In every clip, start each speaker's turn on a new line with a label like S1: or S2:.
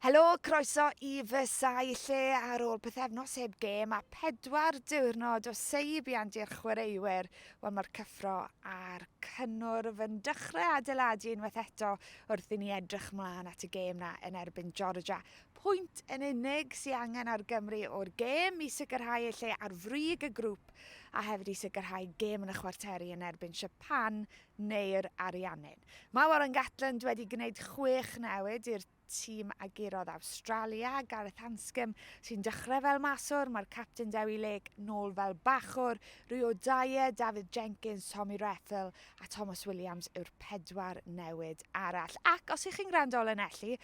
S1: Helo, croeso i fy sail lle ar ôl pythefnos heb gêm a pedwar diwrnod o seibiant i'r chwaraewyr. Wel, mae'r cyffro a'r cynnwrf yn dechrau adeiladu unwaith eto wrth i ni edrych mlaen at y gêm na yn erbyn Georgia. Pwynt yn unig sy'n angen ar Gymru o'r gêm i sicrhau ei lle ar frig y grŵp a hefyd i sicrhau gêm yn y chwarteri yn erbyn Siapan neu'r Ariannin. Mae Warren Gatland wedi gwneud chwech newid i'r tîm a gurodd Awstralia, Gareth Anscombe sy'n dechrau fel maswr, mae'r capten Dewi Lake nôl fel bachwr, Rio Dyer, Dafydd Jenkins, Tommy Reffell a Tomos Williams yw'r pedwar newid arall. Ac os ych chi'n gwrando o Lanelli,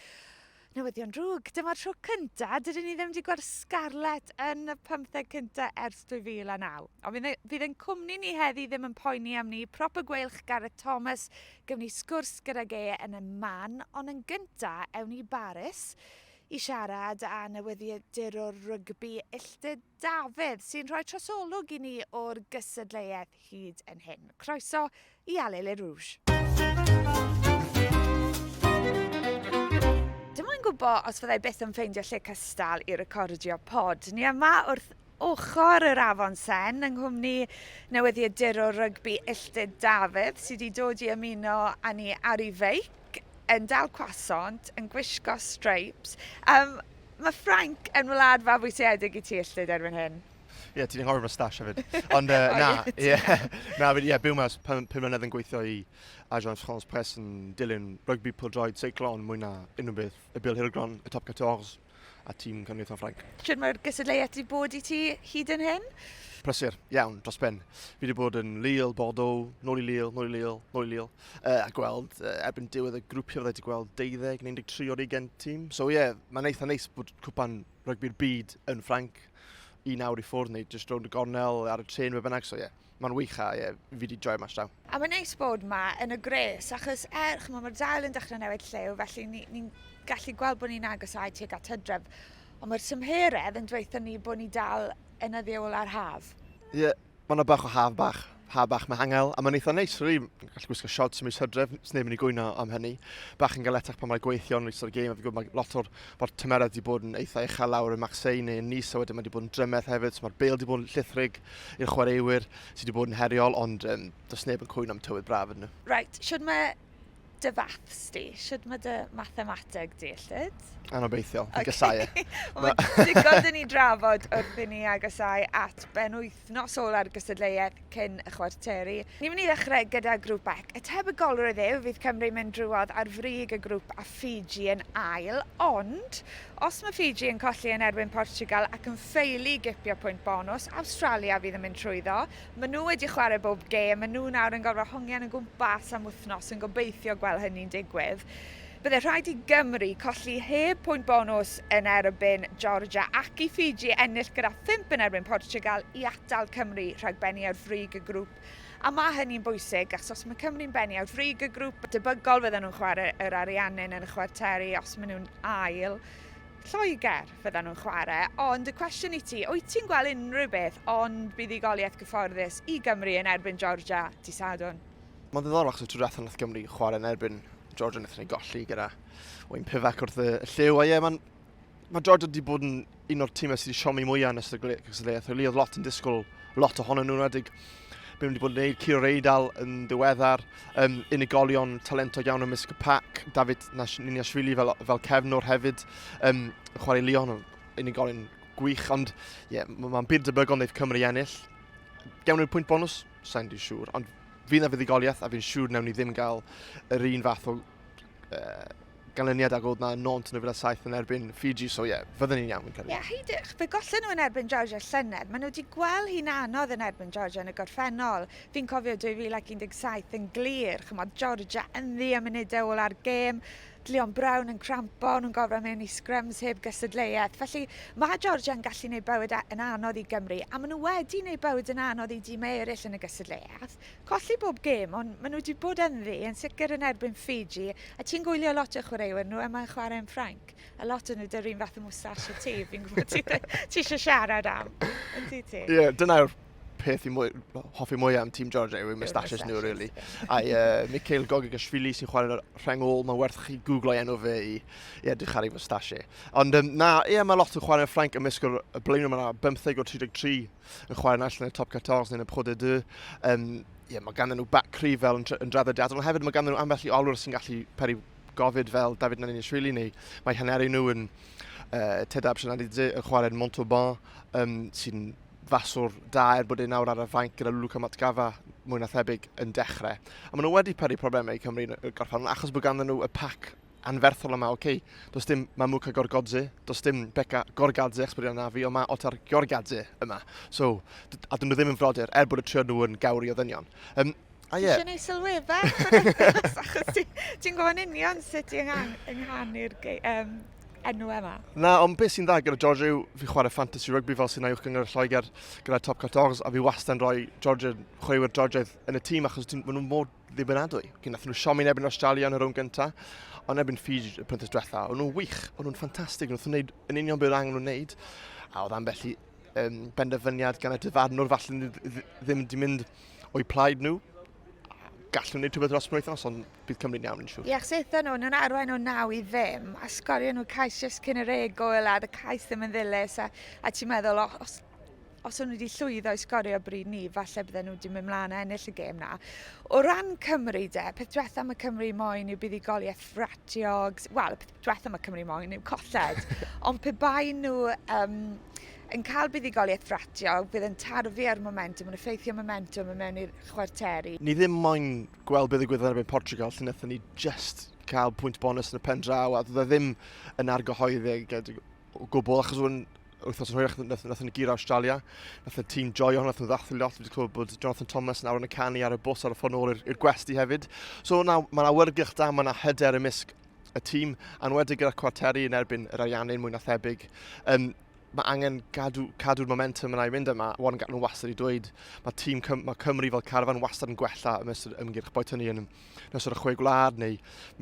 S1: Newyddion drwg! Dyma'r tro cynta dydyn ni ddim wedi gweld Scarlett yn y pymtheg cynta ers 2009. Ond fydd e, fydd ein cwmni ni heddi ddim yn poeni am ni. Prop y gweilch Gareth Thomas, gyfni sgwrs gydag e yn y man, ond yn gynta ewn i Baris i siarad â newyddiadurwr rygbi illtud Dafydd, sy'n rhoi trosolwg i ni o'r gystadleuaeth hyd yn hyn. Croeso i Allez les Rouges! Dim moyn gwybod os fyddai byth yn ffeindio lle cystal i recordio pod. Ni yma wrth ochr yr Afon Sen yng nghwmni newyddiadurwr rygbi Illtud Dafydd sydd wedi dod i ymuno â ni ar ei feic, yn dal cwasant, yn gwisgo streips. Um, Mae Ffrainc yn wlad fabwysiedig i ti, Ystlyd, erbyn hyn. Ie, ti'n anghofio fy stash hefyd. Ond uh, na, ie. Na, ie, byw mas pum mlynedd yn gweithio i Agence France Press yn dilyn rygbi pildroed seiclon mwy na unrhyw beth y Bil Hirgron, y Top 14 a tîm Cynulleidfa Ffrainc. Sut mae'r gysadleuaeth wedi bod i ti hyd yn hyn? Prysur, iawn, dros ben. Fi wedi bod yn Lille, Bordeaux, nôl i Lille, nôl i Lille, nôl i Lille. uh, a gweld uh, erbyn diwedd y grwpiau fydde wedi gweld 12 neu 13 o'r 20 tîm. So ie, yeah, mae'n eitha neis bod cwpan rygbi'r byd yn Ffranc un awr i ffwrdd neu just rownd y gornel ar y tren fe bynnag. So ie, yeah, mae'n wych a ie, yeah, fi wedi joio mas draw. A mae'n neis bod yma yn y gres achos er, chymod, mae'r dail yn dechrau newid llew felly ni'n ni, ni gallu gweld bod ni'n agosau tuag at hydref. Ond mae'r tymheredd yn dweithio ni bod ni dal yn y ddiol ar haf. Ie, yeah, Mae yna bach o haf bach, haf bach mehangel, a mae'n eitha neis, rili. Ni'n gallu gwisgo shorts mis hydref, sy'n neb yn ei gwyno am hynny. Bach yn galetach pan mae'n gweithio yn rhywbeth o'r gêm, a fi'n gwybod mae lot o'r mae'r tymeredd wedi bod yn eitha uchel lawr yn Maxei neu yn Nice, a wedyn mae wedi bod yn drymell hefyd, so mae'r bel wedi bod yn llithrig i'r chwaraewyr sydd wedi bod yn heriol, ond um, does neb yn cwyno am tywydd braf yn nhw. Right, siwr mae dy faths di? Siwt mae dy mathemateg di, Llwyd? Anobeithiol, fi gysau e. Mae digon dyn ni drafod wrth i ni agosau at ben wythnos ola'r gysadleuaeth cyn y chwarteri. Ni'n mynd i ddechrau gyda grŵp bec. Y tebygolrwydd yw fydd Cymru'n mynd drwodd ar frig y grŵp a Fiji yn ail, ond os mae Fiji yn colli yn erbyn Portugal ac yn ffeili gipio pwynt bonws, Awstralia fydd yn mynd trwyddo, Maen nhw wedi chwarae bob gêm, maen nhw nawr yn gorfod hongian o gwmpas am wythnos yn gobeithio gweld hynny'n digwydd. Byddai rhaid i Gymru colli heb pwynt bonws yn erbyn Georgia ac i Fiji ennill gyda phump yn erbyn Portugal i atal Cymru rhag bennu ar frig y grŵp. A mae hynny'n bwysig achos os mae Cymru'n bennu ar frig y grŵp, debygol fyddan nhw'n chwarae yr Ariannin yn y chwarteri os maen nhw'n ail Lloegr. fyddan nhw'n chwarae, ond y cwestiwn i ti, wyt ti'n gweld unrhyw beth ond buddugoliaeth gyfforddus i Gymru yn erbyn Georgia dy Sadwrn? Mae'n ddiddorol achos y tro diwethaf nath Gymru chwarae yn erbyn Georgia wnaethon ni golli gyda Wayne Pivac wrth y lliw. A ie, mae'n mae Georgia wedi bod yn un o'r tîmau sydd wedi siomi mwyaf yn ystod y gylliaeth. Really, oedd lot yn disgwyl lot ohonyn nhw'n wedig Be nhw wedi bod yn gwneud, Ciro Reidal yn ddiweddar, um, unigolion talentog iawn ymysg y pac, David Niniashvili fel, fel cefnwr hefyd, um, chwarae Leon, unigolion gwych, ond yeah, mae'n byd debygol wneud Cymru ennill. Gewn ni'r pwynt bonus? Sa'n di siŵr, ond fydd na fuddugoliaeth a fi'n siŵr newn ni ddim gael yr un fath o ganlyniad ag oedd na nont yn y fila saith yn erbyn Fiji, so ie, yeah, fydden ni'n iawn yn cael ei. Ie, yeah, heidych, fe gollen nhw yn erbyn Georgia llynedd. Maen nhw wedi gweld hi'n anodd yn erbyn Georgia yn y gorffennol. Fi'n cofio 2017 yn glir, chymod, Georgia yn ddi am munudau ôl ar gêm, Leon Brown yn crampo, nhw'n gofro mewn i scrums heb gysadleuaeth. Felly, mae Georgia yn gallu gwneud bywyd yn anodd i Gymru, a maen nhw wedi gwneud bywyd yn anodd i dîmau eraill yn y gysadleuaeth. Colli bob gêm, ond maen nhw wedi bod ynddi, yn sicr yn erbyn Ffiji, a ti'n gwylio lot o chwaraewyr nhw a mae'n chwarae yn Ffrainc, a lot yn nhw 'da'r un fath o moustache a ti, fi'n gwybod ti, ti eisiau siarad am, yn ti ti? Ie, yeah, dyna'r peth i mwy, hoffi mwy am Team Georgia yw moustaches nhw, really. A uh, Mikhail Gogagashvili sy'n chwarae'r rheng ôl, mae'n werth chi googlo enw fe i, i edrych ar ei moustache. Ond um, na, ie, yeah, mae lot o chwaraewyr Ffrainc ymysg y blaenau, mae yna 15 o 33 yn chwarae yn allan y top 14 neu y Pro de Deux. Um, yeah, mae ganddyn nhw back cryf fel yn, yn draddodiadol, ond hefyd mae ganddyn nhw ambell i olwr sy'n gallu peri gofid fel David Nanishvili neu mae haneri nhw yn uh, Tedab Sianadidze yn chwarae'n Montauban um, sy'n faswr da er bod ei nawr ar y fainc gyda Luca Matgafa mwy na thebyg yn dechrau. A maen nhw wedi peri problemau i Cymru yn y gorffan achos bod ganddyn nhw y pac anferthol yma, ok, does dim Mamuka Gorgodze, does dim Becca Gorgadze, achos bod yna na fi, ond mae Otar Gorgadze yma. So, a dyn nhw ddim yn frodyr, er bod y trio nhw yn gawr i ddynion. Um, A ie. Ti'n ei sylweddau, achos ti'n gwybod yn union sut ti'n ynghanu'r um, enw yma. Na, ond beth sy'n dda gyda George yw fi chwarae fantasy rugby fel sy'n aiwch gyngor Lloegr gyda Top 14 a fi wastad yn rhoi George, chwaraewyr George yn y tîm achos maen nhw'n mor ddibynadwy. Cyn nath nhw siomi yn ebyn Australia yn y rownd gyntaf, ond ebyn Fiji y penthas diwetha. O'n nhw'n wych, o'n nhw'n ffantastig, o'n nhw'n gwneud yn union beth angen nhw'n wneud. A oedd ambell i um, benderfyniad gan y dyfarnwr falle ddim wedi mynd o'i plaid nhw. Gallwn nhw'n gwneud rhywbeth dros penwythnos, ond bydd Cymru'n iawn yn siŵr. Ie, achos eithon nhw, nhw'n arwain o naw i ddim, a sgorio nhw cais just cyn yr egwyl, a dy cais ddim yn ddilys, a, a ti'n meddwl, os os o'n nhw wedi llwyddo i sgorio bryd ni, falle bydden nhw wedi mynd mlaen a ennill y gêm na. O ran Cymru de, peth diwetha mae Cymru moyn yw buddigoliaeth ffratiog, wel, peth diwetha mae Cymru moyn yw colled, ond pe bai nhw um, yn cael buddigoliaeth ffratiog, bydd yn tarfu ar momentum, yn effeithio momentum yn mewn i'r chwarteri. Ni ddim moyn gweld beth ddigwyddodd erbyn Portugal, lle wnaethon ni just cael pwynt bonus yn y pen draw, a dda e ddim yn argyhoeddig o gwbl, achos o'n wythnos yn hwyrach, nath, nath yn gir Australia, nath yn tîm joio hwn, nath yn ddathlu lot, wedi clywed bod Jonathan Thomas yn awr yn y canu ar y bws ar y ffordd nôl i'r gwesti hefyd. So na, mae'n awyrgylch da, mae'n hyder y misg y tîm, anwedig gyda'r cwarteri yn erbyn yr Ariannin mwy na thebyg. Um, mae angen gadw, cadw'r momentum yna i fynd yma. Warren Gatland wastad i dweud, mae tîm Cym mae Cymru fel carfan wastad yn gwella ym mysg ymgyrch, boed hynny yn ysod y chwe gwlad neu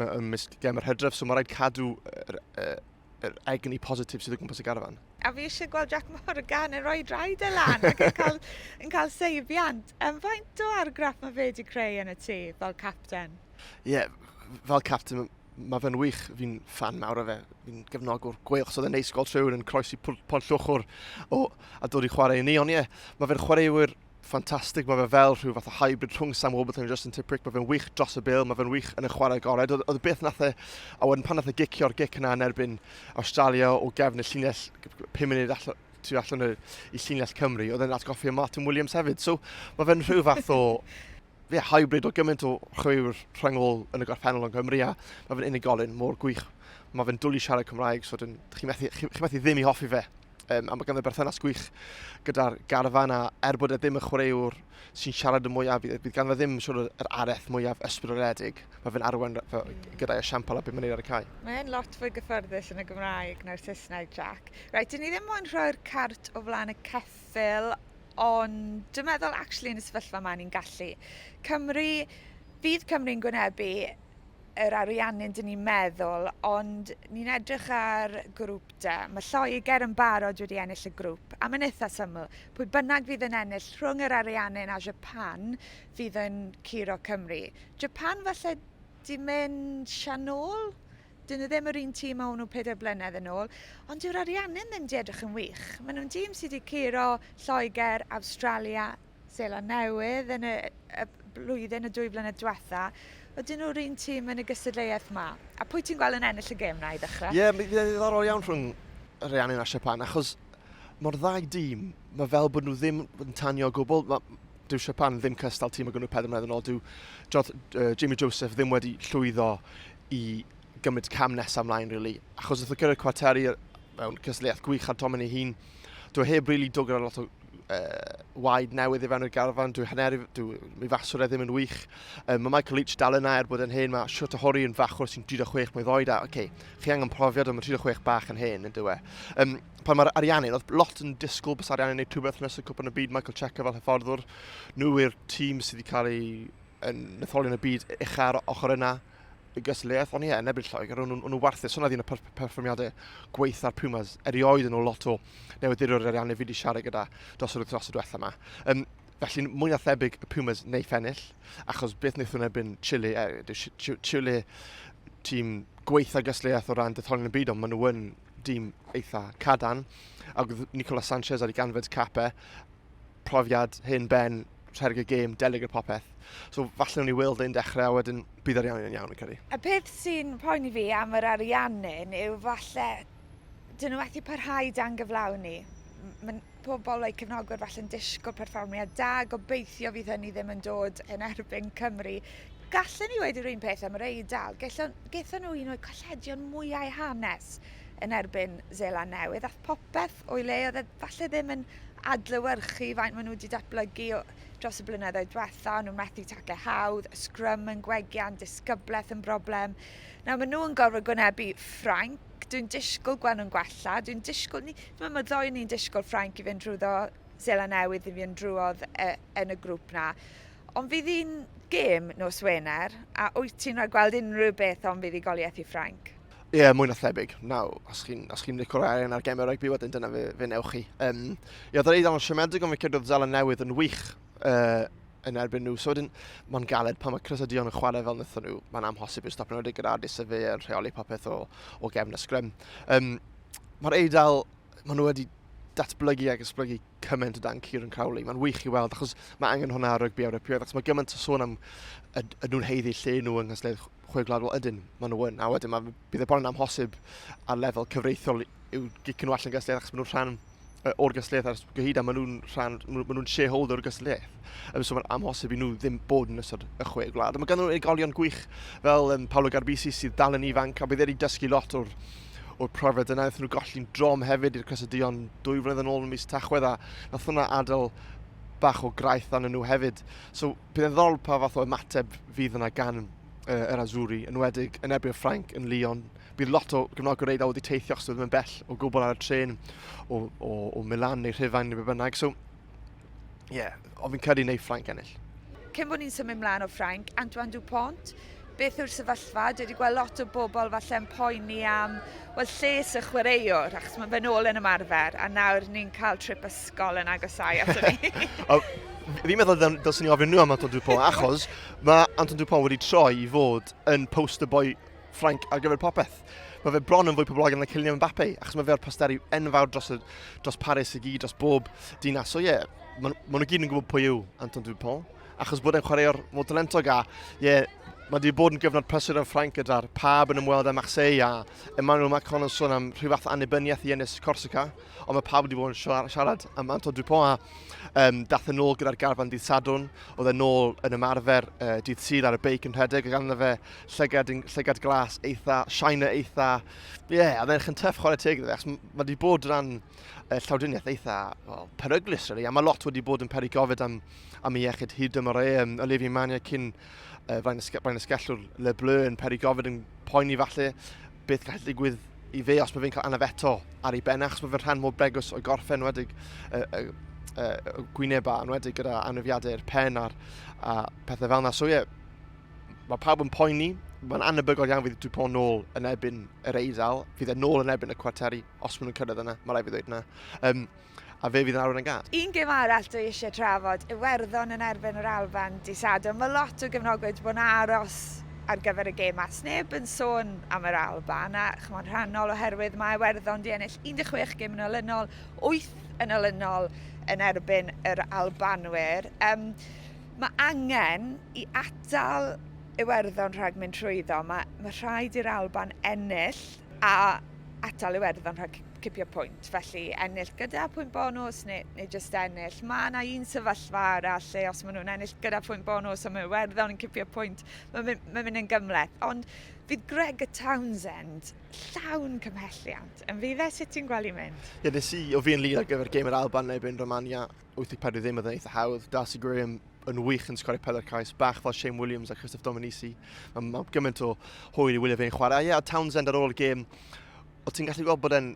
S1: ym mysg gem yr hydref, so mae rhaid cadw er, er, yr egni positif sydd o gwmpas y garfan. A fi eisiau gweld Jack Morgan yn rhoi draed e lan ac yn cael, yn cael seibiant. Yn faint o argraff mae fe wedi creu yn y tŷ fel capten? Ie, yeah, fel capten mae fe'n wych, fi'n fan mawr o fe, fi'n gefnogwr gweil, chos oedd e'n neis gweld rhywun yn croesi pont llwchwr o, a dod i chwarae i ni, ond ie, yeah, mae fe'r chwaraewyr ffantastig, mae fe fel rhyw fath o hybrid rhwng Sam Warburton a Justin Tipuric, mae fe'n wych dros y bil, mae fe'n wych yn y chwarae agored. Oedd, oedd y beth nath e, a wedyn pan nath e gicio'r gic yna yn erbyn Australia o gefn y llinell 5 munud allan, tu allan y, i llinell Cymru, oedd e'n atgoffi Martin Williams hefyd. So mae fe'n rhyw fath o fe hybrid o gymaint o chwewr rhyngol yn y gorffennol yn Cymru a mae fe'n unigolyn mor gwych. Mae fe'n dwlu siarad Cymraeg, so chi'n methu, chi, chi methu ddim i hoffi fe. um, a mae ganddo berthynas gwych gyda'r garfan a er bod e ddim yn chwaraewr sy'n siarad y mwyaf, bydd, bydd ganddo ddim sort of, yr areth mwyaf ysbrydoledig. Mae fe'n arwen gyda'i esiampl a beth mae'n ei ar y cae. Mae'n lot fwy gyffyrddus yn y Gymraeg na'r Saesneg, Jack. Rhaid, dyn ni ddim moyn rhoi'r cart o flaen y ceffil, ond dwi'n meddwl, actually, yn y sefyllfa yma, ni'n gallu. Cymru, bydd Cymru'n gwynebu yr ariannin dyn ni'n meddwl, ond ni'n edrych ar grŵp da. Mae Lloegr yn barod wedi ennill y grŵp, a mae'n eitha syml. Pwy bynnag fydd yn ennill rhwng yr ariannin a Japan fydd yn curo Cymru. Japan falle di mynd sianol, dyn nhw ddim yr un tîm a o'n nhw pedair blynedd yn ôl, ond dyw'r ariannin ddim di edrych yn wych. Maen nhw'n dîm sydd wedi curo Lloegr, Awstralia, Seland Newydd yn y y blwyddyn y dwy flynedd diwetha. Ydyn nhw'r un tîm yn y gystadleuaeth 'ma? A pwy ti'n gweld yn ennill y gêm 'na i ddechrau? Ie, mi fydd e'n ddiddorol iawn rhwng Reanun a Siapan, achos mae'r ddau dîm, mae fel bod nhw ddim yn tanio o gwbl. Ma', dyw Siapan ddim cystal tîm o gynnu pedwar mlynedd yn ôl. Dyw Joth, uh, Jamie Joseph ddim wedi llwyddo i gymryd cam nesaf ymlaen, really. Achos wrth o gyrraedd cwarteri mewn cystadleuaeth gwych ar Domen ei hun, dwi heb rili really dod gyda lot o waed newydd i fewn i'r garfan, dwi hanner, dwi, mi faswr e ddim yn wych. Um, mae Michael Leach dal yna er bod yn hen, mae Shota Hori yn fachwr sy'n 36 mwy ddoed, a okay, chi angen profiad ond mae 36 bach yn hen, yn dywe. Um, pan mae'r Ariannin, oedd lot yn disgwyl bys Ariannin neu rhywbeth nes y cwpan y byd, Michael Checker fel hyfforddwr, nhw i'r tîm sydd wedi cael ei yn netholion y byd uchaf ar ochr yna. Y gystadleuaeth o'n i yn erbyn Lloegr, o'n nhw'n warthus, hwnna oedd un o perfformiadau gweitha'r Pumas, erioed yn ôl lot o newyddiadurwr ariannu fi wedi siarad gyda dros yr wythnos y diwethaf yma. Um, Felly, mwy na thebyg y Pumas neu fennill, achos beth wnaethon nhw'n erbyn Chile, e, Chile tîm gweitha gysleiaeth o ran detholion y byd, ond maen nhw yn dîm eitha cadan. Ac Nicola Sanchez ar ei ganfed capau, profiad hen ben, rhedeg y gêm, delig y popeth. So falle nhw'n i weld ein dechrau a wedyn bydd arian yn iawn yn cyrru. Y peth sy'n poeni fi am yr ariannin yw falle dyn nhw methu parhau dan gyflawni. Mae pobl o'i cefnogwyr falle'n disgwyl perfformiad da, gobeithio fydd hynny ddim yn dod yn erbyn Cymru. Gallen ni wedi'r un peth am yr Eidal. Gethon nhw un o'i colledion mwyau hanes yn erbyn Zeland Newydd, ath popeth o'i le, oedd e falle ddim yn adlewyrchu faint maen nhw wedi datblygu dros y blynyddoedd diwetha, nhw'n methu tacle hawdd, y sgrym yn gwegian, disgyblaeth yn broblem. Nawr maen nhw'n gorfod gwynebu Ffrainc, dwi'n disgwyl gweld nhw'n gwella, dwi'n disgwyl, ni, mae ma ddoi ni'n disgwyl Ffrainc i fynd drwyddo Zela Newydd i fynd drwodd e, yn y grŵp na. Ond fydd hi'n gêm nos Wener, a wyt ti'n rhaid gweld unrhyw beth o'n fuddugoliaeth i Ffrainc? Ie, yeah, mwy na thebyg. Na, os chi'n chi licor arian ar gemau rygbi, wedyn dyna fe, fe newch chi. Um, ie, yeah, dweud am y siomedig, ond fe credodd Zala Newydd yn wych uh, yn erbyn nhw. So wedyn, mae'n galed pan mae Chris a Dion yn chwarae fel wnaethon nhw. Mae'n amhosib i'r stopio'n wedi gyda Adis a fe yn rheoli popeth o, o gefn y sgrym. Um, Mae'r Eidal, maen nhw wedi datblygu ac ysblygu cymaint o dan Kieran Crowley. Mae'n wych i weld, achos mae angen hwnna ar rygbi Ewropeaidd, achos mae gymaint o sôn am y, y nhw'n heiddi lle nhw yng Nghysleid chwe gwlad, wel ydyn, maen nhw yn, a wedyn mae, bydd e bron yn amhosib ar lefel cyfreithiol i'w gicyn nhw allan gysylltiaeth achos maen nhw'n rhan o'r gysylltiaeth ar gyhyd a maen nhw'n rhan, maen nhw'n shareholder o'r gysylltiaeth. Um, so mae'n amhosib i nhw ddim bod yn ystod y chwe gwlad. Mae ganddyn nhw unigolion gwych fel um, Paolo Garbisi sydd dal yn ifanc a bydd wedi dysgu lot o'r o'r profiad yna. Nath nhw golli'n drom hefyd i'r Cresyddion dwy flynedd yn ôl yn mis Tachwedd a nath hwnna adael bach o graith arnyn nhw hefyd. So Bydd yn ddol pa fath o ymateb fydd yna gan uh, yr Azuri, yn wedig yn erbyn Ffrainc yn Lyon. Bydd lot o gefnogwyr Eidal wedi teithio achos ddim yn bell o gwbl ar y tren o, o, o Milan neu Rhufain neu be bynnag. So, ie, yeah, o fi'n credu neu Ffrainc ennill. Cyn bod ni'n symud mlaen o Ffrainc, Antoine Dupont, beth yw'r sefyllfa, dwi wedi gweld lot o bobl falle'n poeni am wel, lles y chwaraewr, achos mae fe'n ôl yn ymarfer, a nawr ni'n cael trip ysgol yn agosau ato ni. Fi'n meddwl dylsyn ni ofyn nhw am Anton Dupont, achos mae Anton Dupont wedi troi i fod yn poster boy Frank ar gyfer popeth. Mae fe bron yn fwy poblogaidd na Kylian Mbappe, achos mae fe o'r posteri enfawr dros, y, dros Paris i gyd, dros bob dinas. So ie, yeah, maen ma nhw gyd yn gwybod pwy yw Anton Dupont. achos bod e'n chwaraewr mor talentog a ie, yeah, Mae wedi bod yn gyfnod prysur yn Ffrainc gyda'r pab yn ymweld â Marseille a Emmanuel Macron yn sôn am rhyw fath annibyniaeth i ennill Corsica, ond mae pab wedi bod yn siarad am Anto Dupont a um, dath yn ôl gyda'r garfan dydd Sadwn, oedd yn ôl yn ymarfer uh, dydd sydd ar y beic yn rhedeg a ganddo fe llygad, llygad glas eitha, shiner eitha, ie, yeah, a ddech yn tyff chwarae teg iddo fe, mae wedi bod rhan uh, llawdriniaeth eitha well, peryglus, really, a mae lot wedi bod yn peri gofyd am am ei iechyd hyd dymor e. Um, Olivier Mania cyn uh, flaen, y, flaen y sgellwr Le Bleu yn peri gofyd yn poeni falle beth gall ddigwydd i fe os mae fe'n cael anaf eto ar ei ben achos mae fe'n rhan mor bregwys o gorffen wedig uh, uh, uh, gwyneba yn wedig gyda anafiadau i'r pen a'r a pethau fel yna. So ie, yeah, mae pawb yn poeni, mae'n anabygol iawn fydd Dupont nôl yn ebyn yr eidl, fydd e nôl yn ebyn y cwarteri, os maen nhw'n cyrraedd yna, mae rai fi ddweud yna. Um, A fe fydd yn arwain y gad. Un gêm arall dwi eisiau trafod, Iwerddon yn erbyn yr Alban dydd Sadwrn. Mae lot o gefnogwyr wedi bod yn aros ar gyfer y gêm 'ma. Sneb yn sôn am yr Alban a ch'mod rhannol oherwydd mae Iwerddon 'di ennill 16 gêm yn olynol, wyth yn olynol yn erbyn yr Albanwyr. Yym ma' angen i atal Iwerddon rhag mynd trwyddo. Ma' ma' rhaid i'r Alban ennill a atal Iwerddon rhag cipio pwynt, felly ennill gyda pwynt bonus neu, neu just ennill. Mae yna un sefyllfa arall lle os maen nhw'n ennill gyda pwynt bonus a mae Werddon yn cipio pwynt, mae'n mynd, mae mynd yn gymleth. Ond fydd Greg y Townsend llawn cymhelliant yn fydd e? Sut ti'n gweld mynd? Ie, yeah, nes i o fi yn lid ar gyfer gêm yr Alban neu erbyn Romania 84 ddim oedd yn eitha hawdd. Darcy Graham yn wych yn sgorio pela'r cais, bach fel Shane Williams a Christoph Dominici. Mae ma gymaint o hwyr i wylio fe'n chwarae. Ie, yeah, a Townsend ar ôl y gêm, O ti'n gallu gweld bod e'n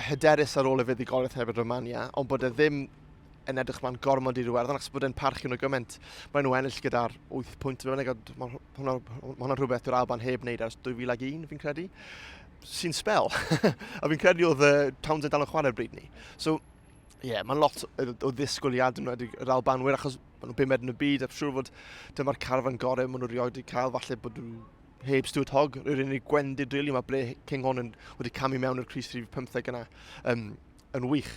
S1: hyderus ar ôl y fuddugoliaeth hefyd Romania, ond bod e ddim yn edrych ma'n gormod i'r werddon, achos bod e'n parchu nhw gymaint. Mae'n nhw ennill gyda'r 8 pwynt, mae'n egod, mae hwnna, hwnna rhywbeth dyw'r Alban heb wneud ers 2001, fi'n credu. Sy'n spel. a fi'n credu oedd uh, Towns yn dal yn chwarae'r bryd ni. So, ie, yeah, mae'n lot o, o ddisgwyliad yn wedi yr Albanwyr, achos maen nhw'n bumed yn y byd, a siŵr fod dyma'r carfan gorau maen nhw rioed wedi cael, falle bod nhw heb Stuart Hogg, yr unig gwendid rili really, mae ble King Hon yn wedi camu mewn i'r Cris 315 yna um, yn wych.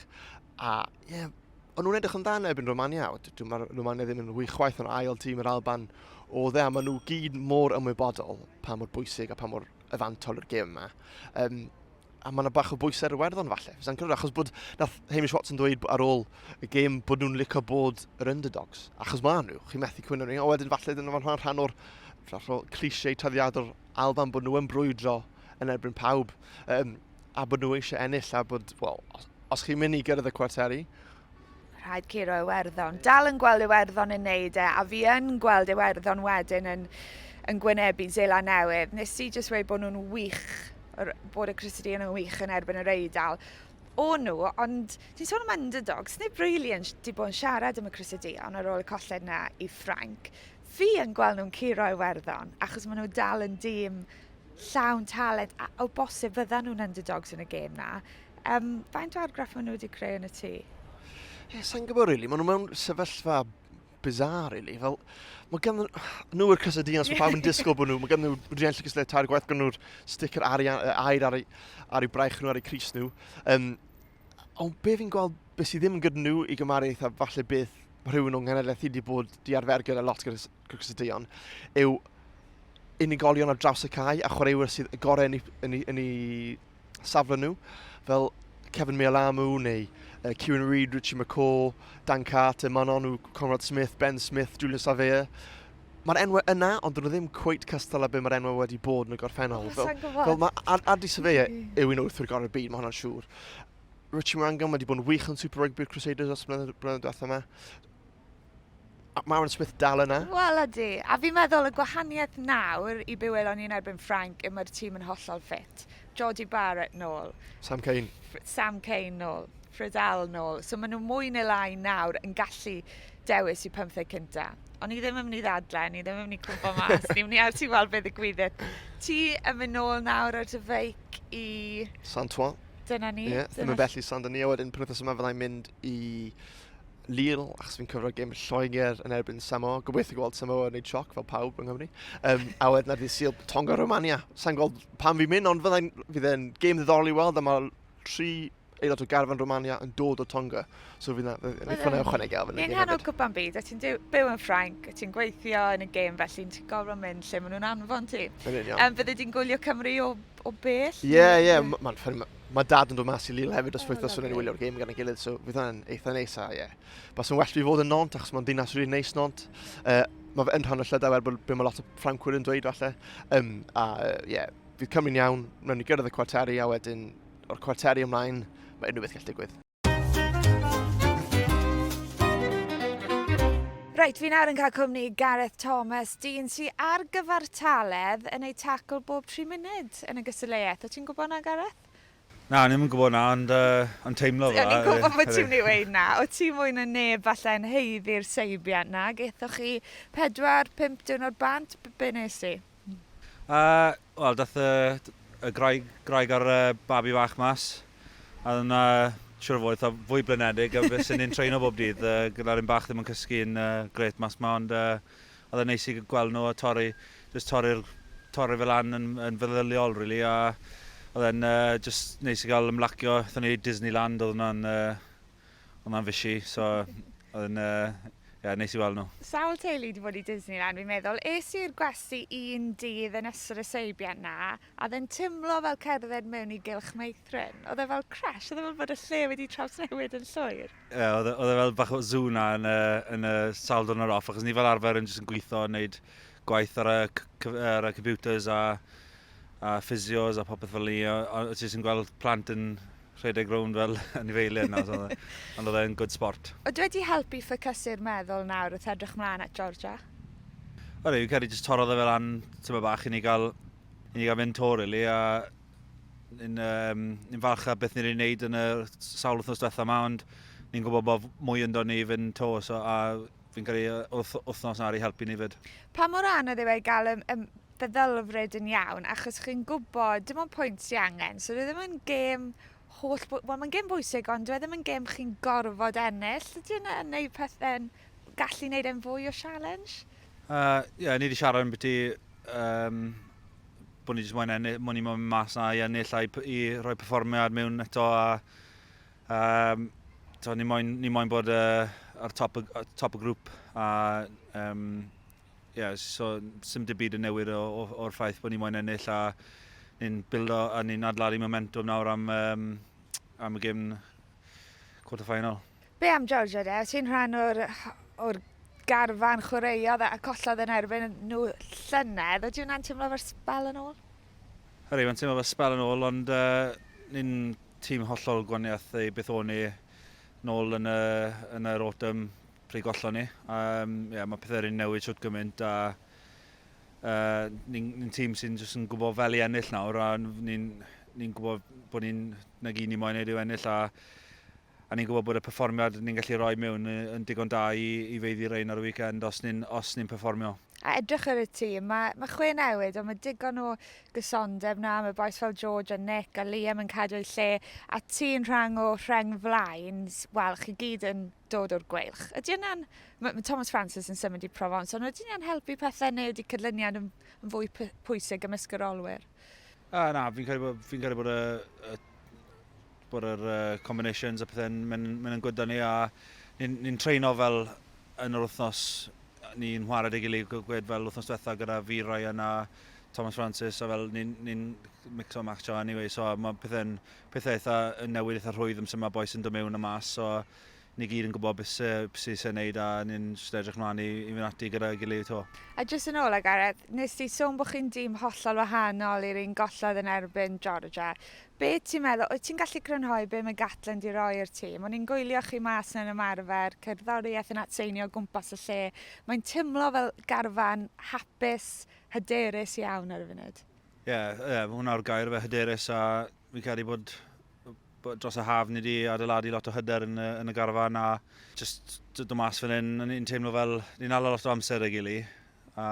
S1: A ie, yeah, ond nhw'n edrych yn dda yn ebyn Romania. Mae'r Romania ddim yn wych chwaith yn ail tîm yr Alban o dde, a maen nhw gyd mor ymwybodol pa mor bwysig a pa mor efantol yr gêm yma. Um, a mae yna bach o bwys ar Iwerddon falle. Fysa'n cyrraedd, achos bod nath Hamish Watson dweud ar ôl y gêm bod nhw'n licio bod yr underdogs. Achos maen nhw, chi'n methu cwyno ni, a wedyn falle dyna fan rhan o'r cliché taddiadol Alban bod nhw yn brwydro yn erbyn pawb, um, a bod nhw eisiau ennill, a bod, wel, os, os chi'n mynd i gyrraedd y cwarteri, rhaid curo Iwerddon. Dal yn gweld Iwerddon yn neud e, a fi yn gweld Iwerddon wedyn yn, yn gwynebu Zela Newydd. Nes i jyst wedi bod nhw'n wych, bod y Crusadean yn wych yn erbyn yr Eidal. O nhw, ond ti'n sôn am underdogs, nid really yn, di bod yn siarad am y Crusadean ar ôl y colled na i Ffrainc. Fi yn gweld nhw'n curo Iwerddon, achos maen nhw dal yn dîm llawn talent, a o bosib fydda nhw'n underdogs yn y gêm na, Um, faint o argraff maen nhw wedi creu yn y tŷ? Ie, sa'n gwybod rili. Really. Maen nhw mewn sefyllfa bizarre, really. Fel, mae gan nhw yr cysau dinas, mae pawb yn disgwyl bod nhw. Mae gan nhw rhiant llygys le tair gwaith, gan nhw'r sticker ar ei air, ar ei, ar ei braich nhw, ar ei cris nhw. Um, ond be fi'n gweld, beth sydd ddim yn gyda nhw i gymaru eitha falle beth mae rhywun o'n nghenedlaeth wedi bod di arfer gyda lot gyda Crocus y Deion, yw unigolion ar draws y cae a chwaraewyr sydd y gorau yn ei, yn ei, yn ei safle nhw, fel Kevin Mealamu neu uh, Kieran Reid, Richie McCaw, Dan Carter, Manonu, Conrad Smith, Ben Smith, Julian Savea. Mae'r enwau yna, ond dyn nhw ddim cweit cystal â beth mae'r enwau wedi bod yn y gorffennol. Oh, fel, fel mae Adi Savea yw un o wythwyr gorau'r byd, mae hwnna'n siŵr. Richie Morangon wedi bod yn wych yn Super Rugby'r Crusaders os blynedd diwethaf yma. Maren Smith dal yna? Wel ydy, a fi'n meddwl y gwahaniaeth nawr i byw elon ni'n erbyn Ffrainc yw mae'r tîm yn hollol ffit. Georgie Barrett nôl. Sam Cain. Sam Cain nôl. Fridal nôl. So maen nhw mwy neu lai nawr yn gallu dewis i pymtheg cynta. Ond ni ddim yn mynd i ddadle, ni ddim yn mynd i cwmpo mas, ni'n mynd i allu weld beth y gwyddet. Ti yn mynd nôl nawr ar dy feic i... Santois. Dyna ni. Ie, yeah, ddim yn bell i Saint-Denis, wedyn penwthnos yma fyddai'n mynd i Lille, achos fi'n cyfro'r gym Lloegr yn erbyn Samoa. Gobeithio gweld Samoa yn ei sioc fel pawb yng Nghymru. Um, a wedyn ar ddydd Sil, Tonga Romania. Sa'n gweld pam fi'n mynd, ond fydd e'n gêm ddiddorol i weld, a mae tri aelod o garfan Romania yn dod o Tonga. So fydd yna eitha na ychwanegu ar fyny. Yn hanol cwpan byd, a ti'n byw yn Ffrainc, a ti'n gweithio yn y gêm felly, ti'n gorfod mynd lle maen nhw'n anfon ti. Um, fydde ti'n gwylio Cymru o, o bell? Ie, yeah, ie, yeah, mae'n ffynnu. Mae dad yn dod mas i Lille hefyd os oh, wythnos yn wylio'r gêm gan y gilydd, so fydd hwnna'n eitha neis a ie. Yeah. Bas yn well fi fod yn nont achos mae'n ddinas rwy'n neis nont. Uh, mae fe yn rhan o llydau er bod mae lot o ffrancwyr yn dweud falle. Um, a ie, uh, yeah, fydd Cymru'n iawn, rwy'n ni gyrraedd y cwarteri a wedyn o'r cwarteri ymlaen mae unrhyw beth gallu digwydd. Reit, fi nawr yn cael cwmni i Gareth Thomas, dyn sy ar gyfartaledd yn ei tacl bob 3 munud yn y gystadleuaeth. O ti'n gwybod na, Gareth? Na, ni'n yn gwybod na, ond uh, yn teimlo fel... Ni'n gwybod bod ti'n mynd i weid na. O ti mwy na neb falle yn heiddi'r seibiant na. Gethoch chi 4-5 diwrnod bant, be nes ti? A, wel, daeth y, y graig, graig a'r uh, babi fach mas. A oedd yna, siwr o fod, eitha fwy blinedig a beth sy'n ni'n treino bob dydd. Uh, gyda'r un bach ddim yn cysgu yn uh, gret mas ma, ond uh, oedd yn neis i gweld nhw a torri, just torri'r torri fel an yn, yn feddyliol, really. A oedd e'n uh, just neis i gael ymlacio. Oedd ni Disneyland, oedd yna'n uh, Ond na'n fishy, so oedd yn uh, yeah, neis i weld nhw. Sawl teulu wedi bod i Disneyland, fi'n meddwl. Es i'r gwesti un dydd yn ystod y seibiant na, a oedd e'n timlo fel cerdded mewn i gylch meithrin. Oedd e fel crash, oedd e fel bod y lle wedi trawsnewid yn llwyr. Ie, yeah, oedd e, e fel bach o zw na yn y, yn y sawl dwrnod yr off, achos ni fel arfer yn jyst yn gweithio, yn neud gwaith ar y, ar y computers a, a physios a popeth fel ni, a, a ti jyst yn gweld plant yn rhedeg rownd fel anifeiliaid nawr, so ond oedd e'n good sport. Ydw wedi helpu ffocysur meddwl nawr wrth edrych mlaen at Georgia? O reit, fi'n credu jyst torrodd e fe lan tymed bach i ni gael, i ni gael mynd to rili, a ni'n um, ni falch a beth ni'n ei wneud yn y sawl wythnos diwetha yma, ond ni'n gwybod bod mwy ynddo ni fynd to, so, a fi'n credu wrth wythnos na i helpu ni fyd. Pa mor anodd yw ei gael y, y feddylfryd yn iawn achos chi'n gwybod dim ond pwynt sy'n angen. So dwi e ddim yn gêm holl... Wel, mae'n gêm bwysig ond dwi e ddim yn gêm chi'n gorfod ennill. Ydy yna yn neud pethau'n... gallu neud e'n fwy o challenge? Ie, uh, yeah, ni wedi siarad yn byti um, bod ni wedi mwyn ennill, mwyn i mwyn mas na i ennill a i, i rhoi performiad mewn eto a um, so, ni mwyn, ni mwyn bod uh, ar top y, top y grŵp a um, Ie, so sym dim byd yn newid o'r ffaith bod ni moyn ennill a ni'n bildo a ni'n adladu momentum nawr am, um, am y gym quarter final. Be am Georgia de? Ti'n rhan o'r, or garfan chwaraeodd a collodd yn erbyn nhw llynedd. Ydy hwnna'n teimlo fel spel yn ôl? Hyrru, mae'n teimlo fel spel yn ôl, ond uh, ni'n tîm hollol gwaniaeth ei beth o'n ni nôl yn, y, yn yr autumn pryd gollon ni. Um, yeah, mae pethau rhywun newid siwt gymaint a uh, ni'n ni tîm sy'n jyst yn gwybod fel i ennill nawr a ni'n ni gwybod bod ni'n na gyd ni moyn ei yw ennill a, a ni'n gwybod bod y perfformiad ni'n gallu rhoi mewn yn digon da i, i feiddi rein ar y weekend os ni'n ni, ni perfformio. A edrych ar y tîm, mae, mae chwe newid, ond mae digon o gysondeb na, mae boes fel George a Nick a Liam yn cadw eu lle, a ti'n rhan o rheng flaen, wel, chi gyd yn dod o'r gweilch. Ydy yna'n... Mae ma Thomas Francis yn symud i Provence, ond ydy yna'n helpu pethau neu ydy cydlyniad yn, yn fwy pwysig ymysg yr olwyr? A, na, fi'n credu bod, fi credu bod y, y bod yr uh, combinations a pethau'n mynd, mynd yn gwydda ni a ni'n ni treino fel yn yr wythnos ni'n chwarae dy gilydd gwed fel wythnos diwetha gyda fi Ryan a Thomas Francis a fel ni'n ni mixo match o anyway so mae pethau'n pethau eitha newid, eitha rhwydd amser mae boes yn dod mewn a mas, so ni gyd yn gwybod beth sy'n se wneud a ni'n just edrych mlaen i, i fynd ati gyda'i gilydd to. A jyst yn ôl ag Gareth, nes ti sôn bod chi'n dîm hollol wahanol i'r un gollodd yn erbyn Georgia. Be ti'n meddwl, wyt ti'n gallu crynhoi be mae Gatland di roi i'r tîm? O'n i'n gwylio chi mas na'n ymarfer, cerddoriaeth yn atseinio o gwmpas y lle. Mae'n timlo fel garfan hapus, hyderus iawn ar y funud. Ie, yeah, yeah, mae hwnna o'r gair fe hyderus a fi'n credu bod, bod dros y haf ni wedi adeiladu lot o hyder yn, yn y garfan a just dod mas fan hyn, ni'n teimlo fel ni'n ala lot o amser y gili a,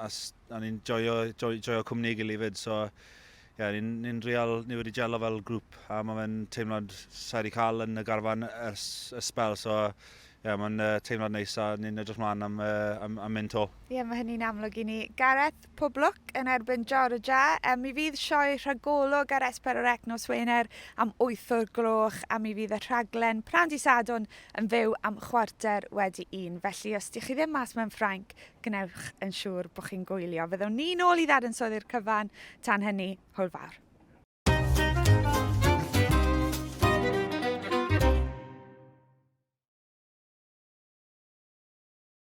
S1: a, a ni'n joio, joio, joio cwmni gili fyd, so ie, yeah, ni'n ni real, ni wedi gelo fel grŵp a mae fe'n teimlad sa'i wedi cael yn y garfan ers y spel, so ie, yeah, mae'n uh, teimlad neis a ni'n edrych mlaen am, uh, am, am mynd to. Ie, yeah, mae hynny'n amlwg i ni. Gareth, Pob lwc yn erbyn Georgia. Yy mi fydd sioe rhagolwg ar S4C nos Wener am wyth o'r gloch a mi fydd y rhaglen Pnawn Dydd Sadwrn yn fyw am chwarter wedi un. Felly os dych chi ddim mas mewn Ffrainc, gwnewch yn siŵr bod chi'n gwylio. Fyddwn ni nôl i ddadansoddi'r cyfan. Tan hynny, hwyl fawr.